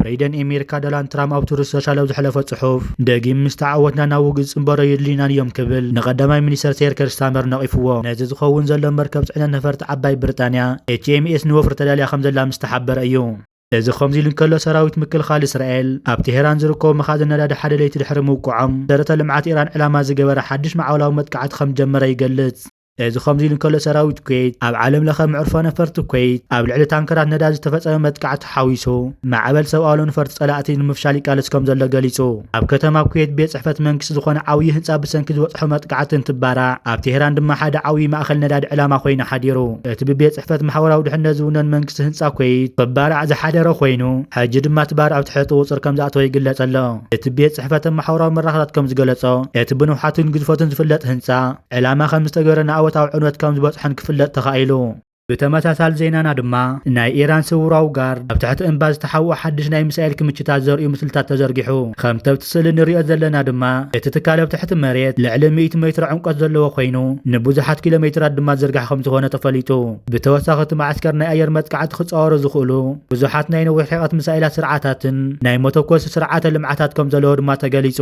ፕሬደን ኣሜሪካ ዶናልድ ትራምፕ ኣብ ትሩዝ ሶሻል ኣብ ዝሐለፈ ጽሑፍ ደጊም ምስ ተዓወትና ናብ ውግእ ጽንበሮ የድልዩናን እዮም ክብል ንቀዳማይ ሚኒስተር ሴር ኬር ስታመር ነቒፍዎ ነዚ ዝኸውን ዘሎ መርከብ ጽዕነት ነፈርቲ ዓባይ ብሪጣንያ ኤችኤምኤስ ንወፍሪ ተዳልያ ከም ዘላ ምስ ተሓበረ እዩ እዚ ከምዚ ኢሉ እንከሎ ሰራዊት ምክልኻል እስራኤል ኣብ ቴሄራን ዝርከቡ መኻዝን ነዳዲ ሓደ ለይቲ ድሕሪ ምውቅዖም መሰረተ ልምዓት ኢራን ዕላማ ዝገበረ ሓድሽ መዓውላዊ መጥቃዕቲ ከምዝጀመረ ይገልጽ። እዚ ከምዚ ኢሉ እንከሎ ሰራዊት ኩዌት ኣብ ዓለም ለኸ መዕርፎ ነፈርቲ ኩዌት ኣብ ልዕሊ ታንከራት ነዳዲ ዝተፈጸመ መጥቃዕቲ ሓዊሱ ማዕበል ሰብኣሎ ነፈርቲ ጸላእቲ ንምፍሻል ይቃለስ ከምዘሎ ገሊጹ። ኣብ ከተማ ኩዌት ቤት ጽሕፈት መንግስቲ ዝኾነ ዓብዪ ህንጻ ብሰንኪ ዝበጽሖ መጥቃዕቲ እንትባራዕ ኣብ ቴሄራን ድማ ሓደ ዓብዪ ማእኸል ነዳዲ ዕላማ ኮይኑ ሓዲሩ። እቲ ብቤት ጽሕፈት ማሕበራዊ ድሕነት ዝውነን መንግስቲ ህንጻ ኩዌይት ክባራዕ ዝሓደረ ኮይኑ፣ ሕጂ ድማ እቲ ባርዕ ኣብ ትሕቲ ቁጽሪ ከምዝኣተወ ይግለጽ ኣሎ። እቲ ቤት ጽሕፈተን ማሕበራዊ መራኸታት ከምዝገለጾ፣ እቲ ብንውሓቱን ግዝፈቱን ዝፍለጥ ህንጻ፣ ዕላማ ከምዝተገበረን ንኣወታዊ ዕንወት ከምዝበጽሖን ክፍለጥ ተኻኢሉ። ብተመሳሳሊ ዜናና ድማ፣ ናይ ኢራን ስውራዊ ጋርድ ኣብ ትሕቲ እምባ ዝተሓብኦ ሓድሽ ናይ ሚሳኤል ክምችታት ዘርእዩ ምስልታት ተዘርጊሑ። ከምቲ ኣብቲ ስእሊ እንሪኦ ዘለና ድማ እቲ ትካል ኣብ ትሕቲ መሬት ልዕሊ ሚእቲ ሜትሮ ዕምቆት ዘለዎ ኮይኑ ንብዙሓት ኪሎ ሜትራት ድማ ዝርግሐ ከምዝኾነ ተፈሊጡ። ብተወሳኺ እቲ መዓስከር ናይ ኣየር መጥቃዕቲ ክፃወሩ ዝኽእሉ ብዙሓት ናይ ነዊሕ ርሕቐት ሚሳኤላት ስርዓታትን ናይ መተኮሲ ስርዓተ ልምዓታት ከምዘለዎ ድማ ተገሊፁ።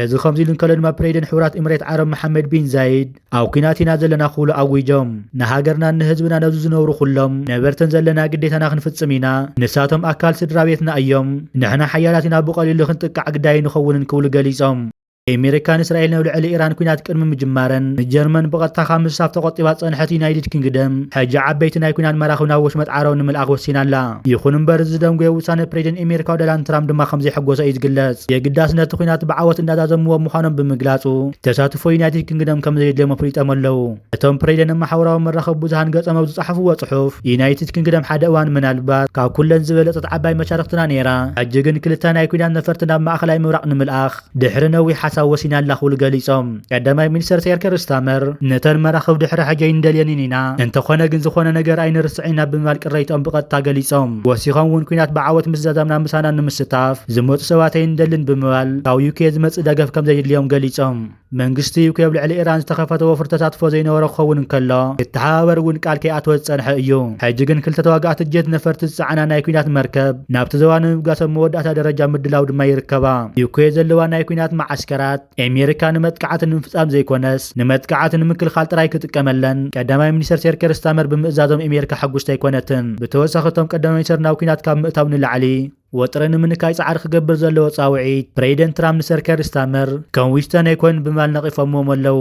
እዚ ከምዚሉ እንከሎ ድማ ፕሬዚደንት ሕቡራት ኢምሬት ዓረብ መሓመድ ቢን ዛይድ፣ ኣብ ኩናት ኢና ዘለና ክብሉ ኣዊጆም። ንሃገርናን ንህዝብናን ኣብዚ ዝነብሩ ኩሎም ነበርትን ዘለና ግዴታና ክንፍጽም ኢና። ንሳቶም ኣካል ስድራቤትና እዮም። ንሕና ሓያላት ኢና ብቐሊሉ ክንጥቃዕ ግዳይ ኣይንኸውንን ክብሉ ገሊጾም። ኤሚሪካን እስራኤልን ኣብ ልዕሊ ኢራን ኩናት ቅድሚ ምጅማረን ንጀርመን ብቐጥታ ካብ ምስታፍ ተቖጢባ ዝጸንሐት ዩናይድድ ኪንግደም ሕጂ ዓበይቲ ናይ ኩናት መራኽብ ናብ ወሽመጥ ዓረብ ንምልኣኽ ወሲና ኣላ። ይኹን እምበር እዚ ዝደንጎየ ውሳነ ፕሬዚደንት ኤሚሪካ ዶናልድ ትራምፕ ድማ ከምዘይሐጎሶ እዩ ዝግለጽ። የግዳስ ነቲ ኩናት ብዓወት እንዳዛዘምዎ ምዃኖም ብምግላጹ፣ ተሳትፎ ዩናይትድ ኪንግደም ከም ዘየድልዮም ኣፍሊጦም ኣለዉ። እቶም ፕሬደን ኣብ ማሕበራዊ መራኸቢ ብዙሃን ገጾም ኣብ ዝጸሓፍዎ ጽሑፍ፣ ዩናይትድ ኪንግደም ሓደ እዋን ምናልባት ካብ ኩለን ዝበለጸት ዓባይ መሻርኽትና ነይራ፣ ሕጂ ግን ክልተ ናይ ኲናት ነፈርቲ ናብ ማእከላይ ምብራቕ ንምልኣኽ ድሕሪ ነዊሕ ሓሳብ ወሲና ኣላ ክብሉ ገሊጾም። ቀዳማይ ሚኒስተር ሰር ኬር ስታመር፣ ነተን መራኽብ ድሕሪ ሕጂ ኣይንደልየንን ኢና፣ እንተዀነ ግን ዝዀነ ነገር ኣይንርስዕን ኢና ብምባል ቅሬትኦም ብቐጥታ ገሊጾም። ወሲኾም እውን ኲናት ብዓወት ምስ ዛዛምና ምሳና ንምስታፍ፣ ዝመፁ ሰባት ኣይንደልን ብምባል ካብ ዩኬ ዝመፅእ ደገፍ ከምዘይድልዮም ገሊፆም። መንግስቲ ዩኬ ኣብ ልዕሊ ኢራን ዝተኸፈተ ወፍሪ ተሳትፎ ዘይነበሮ ክኸውን እንከሎ ክተሓባበር እውን ቃል ከይኣተወ ዝፀንሐ እዩ። ሕጂ ግን ክልተ ተዋጋእቲ ጀት ነፈርቲ ዝፀዓና ናይ ኲናት መርከብ ናብቲ ዞባ ንምብጋስ ኣብ መወዳእታ ደረጃ ምድላው ድማ ይርከባ። ዩኬ ዘለዋ ናይ ኲናት መዓስከራት ኤሜሪካ ንመጥቃዕቲ ንምፍፃም ዘይኮነስ ንመጥቃዕቲ ንምክልኻል ጥራይ ክጥቀመለን ቀዳማይ ሚኒስተር ሴር ኬር ስታመር ብምእዛዞም ኤሜሪካ ሕጉስቲ ኣይኮነትን። ብተወሳኺ እቶም ቀዳማይ ሚኒስተር ናብ ኲናት ካብ ምእታው ንላዕሊ፣ ወጥሪ ንምንካይ ጻዕሪ ክገብር ዘለዎ ጻውዒት ፕረይደንት ትራምፕ ንሰር ከር ስታመር ከም ዊስተን ኣይኮይኑን ብምባል ነቒፎምዎም ኣለዉ።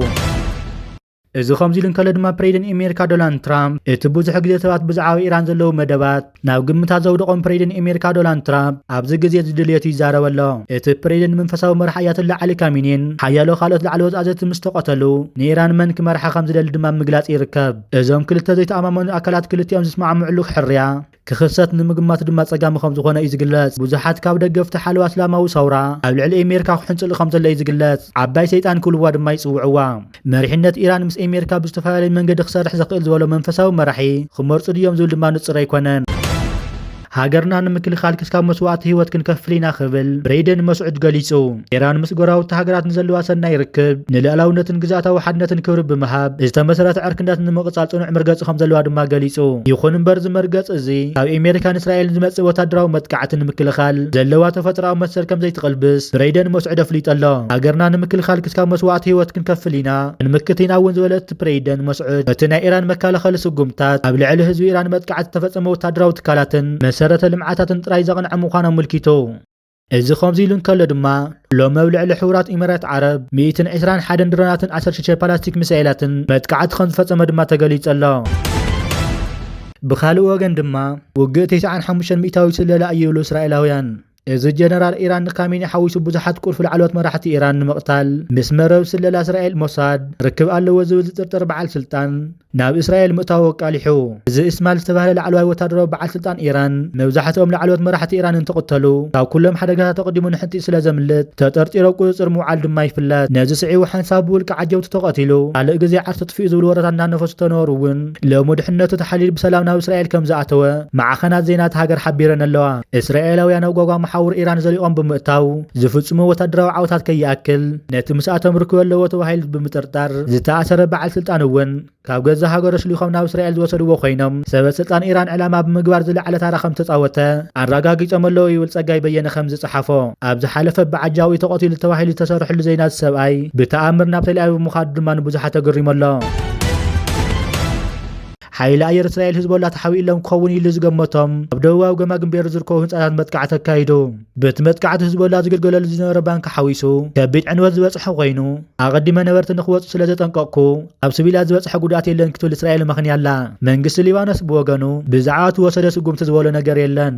እዚ ከምዚ ኢሉ እንከሎ ድማ ፕረይደንት ኤሜሪካ ዶናልድ ትራምፕ እቲ ብዙሕ ግዜ ሰባት ብዛዕባ ኢራን ዘለዉ መደባት ናብ ግምታት ዘውደቖም ፕረይደንት ኤሜሪካ ዶናልድ ትራምፕ ኣብዚ ግዜ እዚ ድልየቱ ይዛረብ ኣሎ። እቲ ፕረይደንት መንፈሳዊ መራሕ ኣያቶላ ዓሊ ካሚኒን ሓያሎ ካልኦት ላዕለዎት ኣዘዝቲ ምስ ተቐተሉ ንኢራን መን ክመርሓ ከም ዝደሊ ድማ ኣብ ምግላጽ ይርከብ። እዞም ክልተ ዘይተኣማመኑ ኣካላት ክልቲኦም ዝስማዕምዕሉ ሕርያ ክኽሰት ንምግማት ድማ ጸጋሚ ከም ዝኾነ እዩ ዝግለጽ። ብዙሓት ካብ ደገፍቲ ሓለዋ እስላማዊ ሰውራ ኣብ ልዕሊ ኤሜርካ ክሕንጽሉ ከም ዘሎ እዩ ዝግለጽ። ዓባይ ሰይጣን ክብልዋ ድማ ይጽውዕዋ። መሪሕነት ኢራን ምስ ኤሜርካ ብዝተፈላለየ መንገዲ ክሰርሕ ዘኽእል ዝበሎ መንፈሳዊ መራሒ ክመርጹ ድዮም ዝብል ድማ ንጹር ኣይኮነን። ሃገርና ንምክልኻል ክስካብ መስዋእቲ ህይወት ክንከፍል ኢና ክብል ብሬይደን መስዑድ ገሊጹ። ኢራን ምስ ጎረባብቲ ሃገራት ንዘለዋ ሰናይ ርክብ፣ ንልኣላውነትን ግዝኣታዊ ሓድነትን ክብሪ ብምሃብ ዝተመሰረተ ዕርክነት ንምቕጻል ጽኑዕ መርገጺ ከም ዘለዋ ድማ ገሊጹ። ይኹን እምበር እዚ መርገጺ እዚ ካብ ኤሜሪካን እስራኤልን ዝመጽእ ወታደራዊ መጥቃዕቲ ንምክልኻል ዘለዋ ተፈጥሮኣዊ መሰል ከም ዘይትቕልብስ ብረይደን ሞስዕድ ኣፍሊጡ ኣሎ። ሃገርና ንምክልኻል ክስካብ መስዋእቲ ህይወት ክንከፍል ኢና ክንምክት ኢና እውን ዝበለ እቲ ፕረይደን ሞስዕድ እቲ ናይ ኢራን መካለኸሊ ስጉምትታት ኣብ ልዕሊ ህዝቢ ኢራን መጥቃዕቲ ዝተፈጸመ ወታደራዊ ትካላትን መሰረተ ልምዓታትን ጥራይ ዘቕንዐ ምዃኑ ኣመልኪቱ። እዚ ከምዚ ኢሉ እንከሎ ድማ ሎሚ ኣብ ልዕሊ ሕቡራት ኢሚራት ዓረብ ሚእትን ዕስራን ሓደን ድሮናትን ዓሰርተ ሽዱሽተ ፓላስቲክ ሚሳኤላትን መጥቃዕቲ ከምዝፈጸመ ድማ ተገሊጹ ኣሎ። ብኻልእ ወገን ድማ ውግእ ቴስዓን ሓሙሽተን ሚእታዊት ስለላ እዩ ይብሉ እስራኤላውያን። እዚ ጀነራል ኢራን ንካሚኒ ሓዊሱ ብዙሓት ቁልፊ ላዕለዎት መራሕቲ ኢራን ንምቕታል ምስ መረብ ስለላ እስራኤል ሞሳድ ርክብ ኣለዎ ዝብል ዝጥርጠር በዓል ስልጣን ናብ እስራኤል ምእታዉ ኣቃሊሑ። እዚ እስማል ዝተባህለ ላዕለዋይ ወታደራዊ በዓል ስልጣን ኢራን፣ መብዛሕትኦም ላዕለዎት መራሕቲ ኢራን እንትቕተሉ፣ ካብ ኩሎም ሓደጋታት ኣቐዲሙ ንሕንጥይ ስለ ዘምልጥ ተጠርጢሩ ኣብ ቁጽጽር ምውዓሉ ድማ ይፍለጥ። ነዚ ስዒቡ ሓንሳብ ብውልቂ ዓጀውቲ ተቐቲሉ፣ ካልእ ግዜ ዓርሱ ኣጥፊኡ ዝብሉ ወረታት እናነፈሱ ተነበሩ እውን፣ ሎሚ ድሕነቱ ተሓልይሉ ብሰላም ናብ እስራኤል ከም ዝኣተወ ማዕኸናት ዜና እታ ሃገር ሓቢረን ኣለዋ። እስራኤላውያን ኣብ ጓጓ መሓውር ኢራን ዘሊቖም ብምእታው ዝፍጽምዎ ወታደራዊ ዓወታት ከይኣክል፣ ነቲ ምስኣቶም ርክበ ኣለዎ ተባሂሉ ብምጥርጣር ዝተኣሰረ በዓል ስልጣን እውን ካብ ገዛ ሃገሩ ኣሽሊኾም ናብ እስራኤል ዝወሰድዎ ኮይኖም ሰበ ስልጣን ኢራን ዕላማ ብምግባር ዝለዓለ ታራ ከም ዝተፃወተ ኣረጋጊፆም ኣለዉ ይብል ፀጋይ በየነ ከም ዝፀሓፎ ኣብ ዝሓለፈ ብዓጃው እዩ ተቐቲሉ ተባሂሉ ዝተሰርሕሉ ዜና እዚ ሰብኣይ ብተኣምር ናብ ተልኣቪቭ ምዃዱ ድማ ንብዙሓት ኣገሪሙ ኣሎ። ሓይሊ ኣየር እስራኤል ህዝቦላ ተሓቢእሎም ክኸውን ኢሉ ዝገመቶም ኣብ ደቡባዊ ገማግም ቤሩ ዝርከቡ ህንፃታት መጥቃዕቲ ኣካይዱ በቲ መጥቃዕቲ ህዝቦላ ዝግልገለሉ ዝነበረ ባንኪ ሓዊሱ ከቢድ ዕንወት ዝበፅሐ ኮይኑ ኣቐዲመ ነበርቲ ንክወፁ ስለ ዘጠንቀቕኩ ኣብ ስቪላት ዝበፅሐ ጉድኣት የለን ክትብል እስራኤል መኽንያ ኣላ መንግስቲ ሊባኖስ ብወገኑ ብዛዕባ እቲ ወሰደ ስጉምቲ ዝበሎ ነገር የለን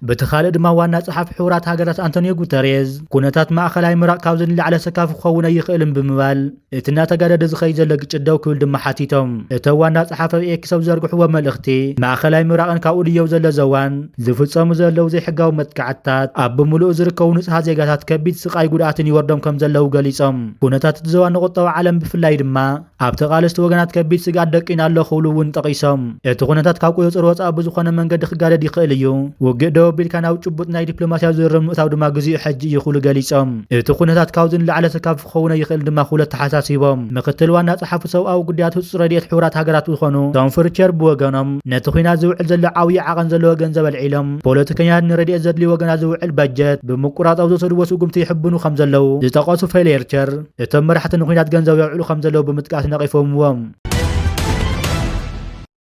በቲ ካልእ ድማ ዋና ጸሓፊ ሕቡራት ሃገራት ኣንቶኒዮ ጉተሬዝ ኩነታት ማእኸላይ ምራቕ ካብዚ ንላዕለ ሰካፍ ክኸውን ኣይኽእልን ብምባል እቲ እናተጋደደ ዝኸይ ዘሎ ግጭት ደው ክብል ድማ ሓቲቶም። እቶ ዋና ጸሓፊ ኣብ ኤክስ ኣብ ዘርግሕዎ መልእኽቲ ማእኸላይ ምራቕን ካብኡ ድየው ዘሎ ዘዋን ዝፍጸሙ ዘለዉ ዘይሕጋዊ መጥቃዕትታት ኣብ ብምሉኡ ዝርከቡ ንጹሃት ዜጋታት ከቢድ ስቓይ ጉድኣትን ይወርዶም ከም ዘለዉ ገሊጾም። ኩነታት እቲ ዘዋ ንቁጠባ ዓለም ብፍላይ ድማ ኣብ ተቓለስቲ ወገናት ከቢድ ስግኣት ደቂና ኣሎ ክብሉ እውን ጠቒሶም እቲ ኩነታት ካብ ቁፅፅር ወፃኢ ብዝኾነ መንገዲ ክጋደድ ይኽእል እዩ፣ ውግእ ደው ኣቢልካ ናብ ጭቡጥ ናይ ዲፕሎማሲያዊ ዝርርብ ምእታው ድማ ግዚኡ ሕጂ እዩ ክብሉ ገሊፆም። እቲ ኩነታት ካብዚ ንላዕሊ ሰካፍ ክኸውን ኣይኽእልን ድማ ክብሉ ኣተሓሳሲቦም። ምክትል ዋና ፀሓፊ ሰብኣዊ ጉዳያት ህፁፅ ረድኤት ሕቡራት ሃገራት ዝኾኑ ቶም ፍርቸር ብወገኖም ነቲ ኹናት ዝውዕል ዘሎ ዓብዪ ዓቐን ዘለዎ ገንዘብ ኣልዒሎም ፖለቲከኛታት ንረድኤት ዘድልዩ ወገናት ዝውዕል በጀት ብምቁራፅ ኣብ ዝወሰድዎ ስጉምቲ ይሕብኑ ከምዘለዉ ዝጠቐሱ ፌሌርቸር እቶም መራሕቲ ንኲናት ገንዘብ የውዕሉ ከም ዘለዉ ብምጥቃስ ነቒፎምዎም።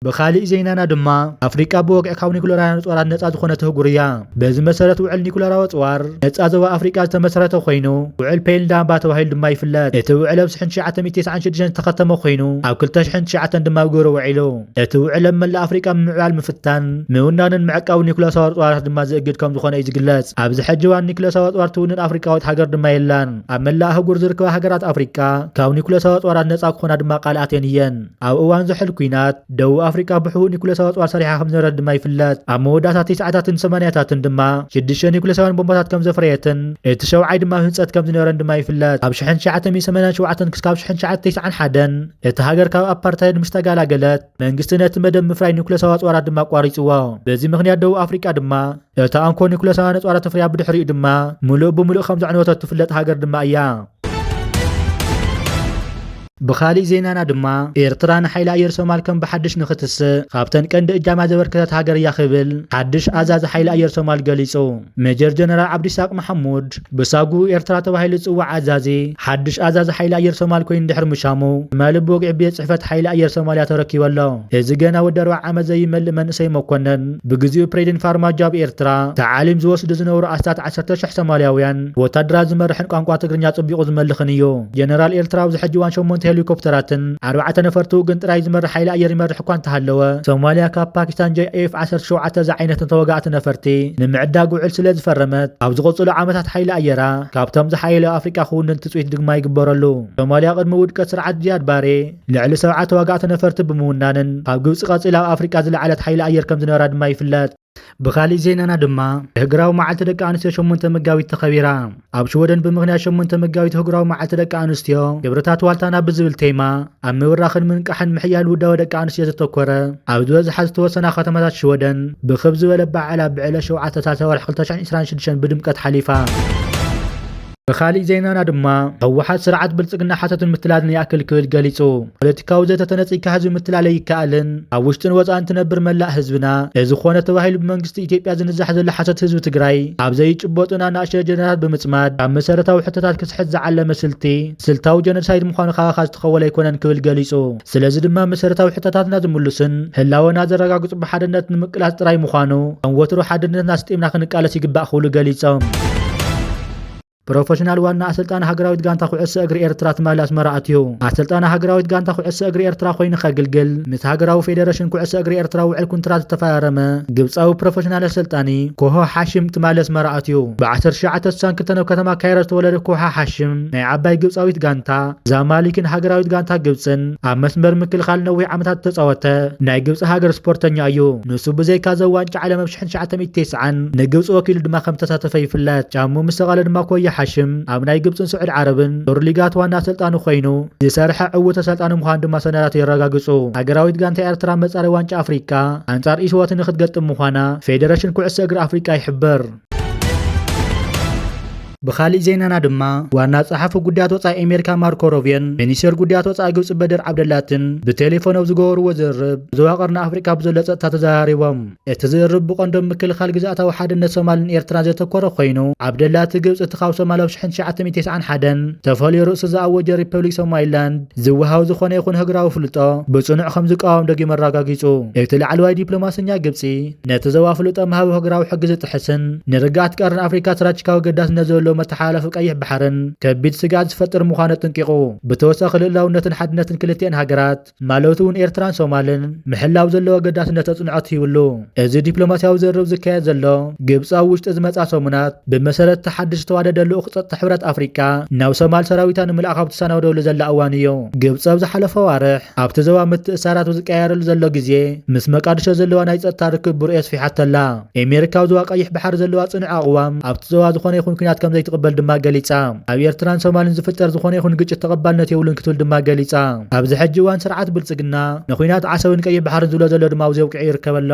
ብኻሊእ ዜናና ድማ ኣፍሪቃ ብወግዒ ካብ ኒኩለራውያን ኣጽዋራት ነጻ ዝኾነት ኣህጉር እያ። በዚ መሰረት ውዕል ኒኩለራዊ ኣጽዋር ነጻ ዞባ ኣፍሪቃ ዝተመሰረተ ኮይኑ፣ ውዕል ፔይልዳምባ ተባሂሉ ድማ ይፍለጥ። እቲ ውዕል ኣብ ሽሕን ትሽዓተ ሚእቲ ተስዓን ሽዱሽተን ዝተኸተመ ኮይኑ፣ ኣብ ክልተ ሽሕን ትሽዓተን ድማ ኣብ ግብሪ ውዒሉ። እቲ ውዕል ኣብ መላእ ኣፍሪቃ ምምዕባል፣ ምፍታን፣ ምውናንን ምዕቃብን ኒኩለሳዊ ኣርጽዋራት ድማ ዝእግድ ከም ዝኾነ እዩ ዝግለጽ። ኣብዚ ሕጂ እዋን ኒኩለሳዊ ኣጽዋር ትውንን ኣፍሪቃዊት ሃገር ድማ የላን። ኣብ መላእ ኣህጉር ዝርከባ ሃገራት ኣፍሪቃ ካብ ኒኩለሳዊ ኣጽዋራት ነጻ ክኾና ድማ ቃል ኣትየን እየን። ኣብ እዋን ዝሑል ኲናት፣ ደቡብ ኣፍሪቃ ብሕቡእ ኒኩለሳዊ ኣጽዋር ሰሪሓ ከም ዝነበረት ድማ ይፍለጥ። ኣብ መወዳእታ ትስዓታትን ሰማንያታትን ድማ ሽዱሽተ ኒኩለሳውያን ቦምባታት ከም ዘፍረየትን እቲ ሸውዓይ ድማ ኣብ ህንጸት ከም ዝነበረን ድማ ይፍለጥ። ካብ ሽሕን ትሽዓተ ሚእትን ሰማንያን ሸውዓተን ክስካብ ሽሕን ትሽዓተ ቴስዓን ሓደን እታ ሃገር ካብ ኣፓርታይድ ምስ ተጋላገለት፣ መንግስቲ ነቲ መደብ ምፍራይ ኒኩለሳዊ ኣጽዋራት ድማ ኣቋሪጽዎ። በዚ ምኽንያት ደቡብ ኣፍሪቃ ድማ እታ እንኮ ኒኩለሳ ነፃላ ተፍርያ ብድሕሪኡ ድማ ምሉእ ብምሉእ ከም ዘዕነወተት ትፍለጥ ሃገር ድማ እያ። ብኻሊእ ዜናና ድማ ኤርትራ ንሓይሊ ኣየር ሶማል ከም ብሓድሽ ንኽትስእ ካብተን ቀንዲ እጃማ ዘበርከተት ሃገር እያ ክብል ሓድሽ ኣዛዚ ሓይሊ ኣየር ሶማል ገሊጹ። ሜጀር ጀነራል ዓብዲሳቅ መሓሙድ ብሳጒ ኤርትራ ተባሂሉ ዝጽዋዕ ኣዛዚ፣ ሓድሽ ኣዛዚ ሓይሊ ኣየር ሶማል ኮይኑ ድሕሪ ምሻሙ፣ ትማሊ ብወግዒ ቤት ጽሕፈት ሓይሊ ኣየር ሶማልያ ተረኪቡ ኣሎ። እዚ ገና ወዲ ኣርብዓ ዓመት ዘይመልእ መንእሰይ መኮነን፣ ብግዜኡ ፕሬዚደንት ፋርማጆ ኣብ ኤርትራ ታዕሊም ዝወስዱ ዝነበሩ ኣስታት ዓሰርተ ሽሕ ሶማልያውያን ወታደራት ዝመርሕን ቋንቋ ትግርኛ ጽቢቑ ዝመልኽን እዩ። ጀነራል ኤርትራ ኣብዚ ሕጂ እዋን ሸሞንተ ሄሊኮፕተራትን፣ ኣርባዕተ ነፈርቱ ግን ጥራይ ዝመርሕ ሓይሊ ኣየር ይመርሕ እኳ እንተሃለወ፣ ሶማልያ ካብ ፓኪስታን JAF ዓሰርተ ሸውዓተ ዝዓይነቶም ተዋጋእቲ ነፈርቲ ንምዕዳግ ውዕል ስለ ዝፈረመት፣ ኣብ ዝቕጽሉ ዓመታት ሓይሊ ኣየራ ካብቶም ዝሓየሉ ኣብ ኣፍሪቃ ክውንን ትጽቢት ድግማ ይግበረሉ። ሶማልያ ቅድሚ ውድቀት ስርዓት ዚያድ ባሬ ልዕሊ ሰብዓ ተዋጋእቲ ነፈርቲ ብምውናንን ካብ ግብጺ ቀጺላ ኣብ ኣፍሪቃ ዝለዓለት ሓይሊ ኣየር ከም ዝነበራ ድማ ይፍለጥ። ብኻሊእ ዜናና ድማ ህግራዊ መዓልቲ ደቂ ኣንስትዮ ሸሞንተ መጋቢት ተኸቢራ። ኣብ ሽወደን ብምኽንያት ሸሞንተ መጋቢት ህግራዊ መዓልቲ ደቂ ኣንስትዮ ክብርታት ዋልታና ብዝብል ቴማ ኣብ ምብራኽን ምንቃሕን ምሕያል ውዳበ ደቂ ኣንስትዮ ዘተኮረ ኣብ ዝበዝሓ ዝተወሰና ከተማታት ሽወደን ብክብ ዝበለ በዓል ኣብ ዕለት ሸውዓተ ሳልሳይ ወርሒ ክልተ ሽሕን ዕስራን ሽዱሽተን ብድምቀት ሓሊፋ። ብኻሊእ ዜናና ድማ ህወሓት ስርዓት ብልፅግና ሓሶትን ምትላልን ይኣክል ክብል ገሊፁ። ፖለቲካዊ ዘተ ተነፂግካ ህዝቢ ምትላል ኣይከኣልን፣ ኣብ ውሽጥን ወፃእን ትነብር መላእ ህዝብና እዚ ኮነ ተባሂሉ ብመንግስቲ ኢትዮጵያ ዝንዛሕ ዘሎ ሓሶት ህዝቢ ትግራይ ኣብ ዘይጭበጡን ኣናእሽተይ ኣጀንዳታት ብምፅማድ ካብ መሰረታዊ ሕቶታት ክስሕት ዝዓለመ ስልቲ ስልታዊ ጀኖሳይድ ምዃኑ ካባኻ ዝተኸወለ ኣይኮነን ክብል ገሊፁ። ስለዚ ድማ መሰረታዊ ሕቶታትና ዝምልሱን ህላወና ዘረጋግጹ ብሓድነት ንምቅላስ ጥራይ ምዃኑ ከም ወትሩ ሓድነትና ኣስጢምና ክንቃለስ ይግባእ ክብሉ ገሊጾም። ፕሮፈሽናል ዋና ኣሰልጣኒ ሃገራዊት ጋንታ ኩዕሶ እግሪ ኤርትራ ትማሊ ኣስመራ ኣትዩ ኣሰልጣኒ ሃገራዊት ጋንታ ኩዕሶ እግሪ ኤርትራ ኮይኑ ከግልግል ምስ ሃገራዊ ፌደረሽን ኩዕሶ እግሪ ኤርትራ ውዕል ኩንትራት ዝተፈራረመ ግብፃዊ ፕሮፈሽናል ኣሰልጣኒ ኮሆ ሓሽም ትማሊ ኣስመራ ኣትዩ ብ1962 ኣብ ከተማ ካይሮ ዝተወለደ ኮሃ ሓሽም ናይ ዓባይ ግብፃዊት ጋንታ ዛማሊክን ሃገራዊት ጋንታ ግብጽን ኣብ መስመር ምክልኻል ነዊሕ ዓመታት እተጻወተ ናይ ግብጺ ሃገር ስፖርተኛ እዩ። ንሱ ብዘይካ እዛ ዋንጫ ዓለም ኣብ ሽሕን ትሽዓተ ሚእቲ ተስዓን ንግብጺ ወኪሉ ድማ ከም እተሳተፈ ይፍለጥ። ጫምኡ ምስ ሰቐለ ድማ ኮያ ሓሽም ኣብ ናይ ግብጽን ስዑድ ዓረብን ዞር ሊጋት ዋና ኣሰልጣኒ ኮይኑ ዝሰርሐ ዕዉት ኣሰልጣኒ ምዃኑ ድማ ሰነዳቱ የረጋግጹ። ሃገራዊት ጋንታ ኤርትራ ኣብ መጻረይ ዋንጫ ኣፍሪቃ ኣንጻር ኢስዋቲኒ ክትገጥም ምዃና ፌደረሽን ኩዕሶ እግሪ ኣፍሪቃ ይሕብር። ብኻሊእ ዜናና ድማ ዋና ጸሓፊ ጉዳያት ወፃኢ ኣሜሪካ ማርኮ ሮቤን ሚኒስቴር ጉዳያት ወፃኢ ግብፂ በድር ዓብደላትን ብቴሌፎን ኣብ ዝገበርዎ ዝርርብ ዞባ ቀርኒ ኣፍሪካ ብዘሎ ፀጥታ ተዘራሪቦም እቲ ዝርርብ ብቐንዶም ምክልኻል ግዝኣታዊ ሓድነት ሶማልን ኤርትራን ዘተኮረ ኮይኑ ዓብደላቲ ግብፂ እቲ ካብ ሶማል ኣብ 1991 ተፈልዮ ርእሲ ዝኣወጀ ሪፐብሊክ ሶማሊላንድ ዝወሃው ዝኾነ ይኹን ህግራዊ ፍልጦ ብፅኑዕ ከም ዝቃወም ደጊም ኣረጋጊፁ እቲ ላዕለዋይ ዲፕሎማሰኛ ግብፂ ነቲ ዞባ ፍሉጦም ሃብህግራዊ ሕጊ ዝጥሕስን ንርግኣት ቀርኒ ኣፍሪካ ስትራቴጂካዊ ገዳስነት ዘለዎ መተሓላለፊ ቀይሕ ባሕርን ከቢድ ስግኣት ዝፈጥር ምዃኑ ኣጥንቂቑ። ብተወሳኺ ልእላውነትን ሓድነትን ክልቲኤን ሃገራት ማለቱ እውን ኤርትራን ሶማልን ምሕላው ዘለዎ ኣገዳስነት ኣፅንዖት ሂብሉ። እዚ ዲፕሎማሲያዊ ዝርርብ ዝካየድ ዘሎ ግብፂ ኣብ ውሽጢ ዝመፅኣ ሰሙናት ብመሰረት እቲ ሓድሽ ዝተዋደደ ልኡኽ ፀጥታ ሕብረት ኣፍሪካ ናብ ሶማል ሰራዊታ ንምልኣኽ ኣብ ትሰናደወሉ ዘላ እዋን እዩ። ግብፂ ኣብ ዝሓለፈ ኣዋርሕ፣ ኣብቲ ዞባ ምትእሳራቱ ዝቀያየረሉ ዘሎ ግዜ ምስ መቃድሾ ዘለዋ ናይ ጸጥታ ርክብ ብርኦ የስፊሓቶ ኣላ። ኤሜሪካ ኣብ ዞባ ቀይሕ ባሕሪ ዘለዋ ጽኑዕ ኣቕዋም ኣብቲ ዞባ ዝኾነ ይኹን ኩናት ከምዘይትቕበል ድማ ገሊጻ። ኣብ ኤርትራን ሶማልን ዝፍጠር ዝኾነ ይኹን ግጭት ተቐባልነት የብሉን ክትብል ድማ ገሊጻ። ኣብዚ ሕጂ እዋን ስርዓት ብልጽግና ንኩናት ዓሰብን ቀይሕ ባሕርን ዝብሎ ዘሎ ድማ ኣብዚ ኣብቂዑ ይርከብ ኣሎ።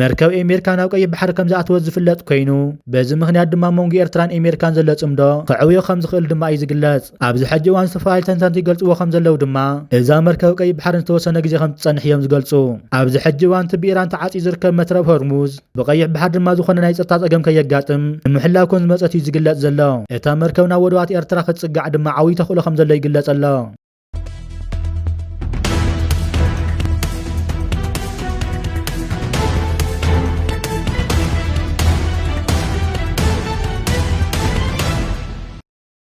መርከብ ኤሜሪካ ናብ ቀይሕ ባሕሪ ከምዝኣተወት ዝፍለጥ ኮይኑ በዚ ምኽንያት ድማ ኣብ መንጎ ኤርትራን ኤሜሪካን ዘሎ ጽምዶ ክዕብዮ ከምዝኽእል ድማ እዩ ዝግለጽ። ኣብዚ ሕጂ እዋን ዝተፈላለዩ ተንተንቲ ይገልጽዎ ከም ዘለዉ ድማ፣ እዛ መርከብ ቀይሕ ባሕሪ ንዝተወሰነ ግዜ ከም እትጸንሕ እዮም ዝገልጹ። ኣብዚ ሕጂ እዋን እቲ ብኢራን ተዓጽዩ ዝርከብ መትረብ ሆርሙዝ፣ ብቀይሕ ባሕሪ ድማ ዝኾነ ናይ ጸጥታ ጸገም ከየጋጥም ንምሕላው ከም ዝመጸት እዩ ዝግለጽ ዘሎ። እታ መርከብ ናብ ወደባት ኤርትራ ክትጽጋዕ ድማ ዓብዪ ተኽእሎ ከም ዘሎ ይግለጽ ኣሎ።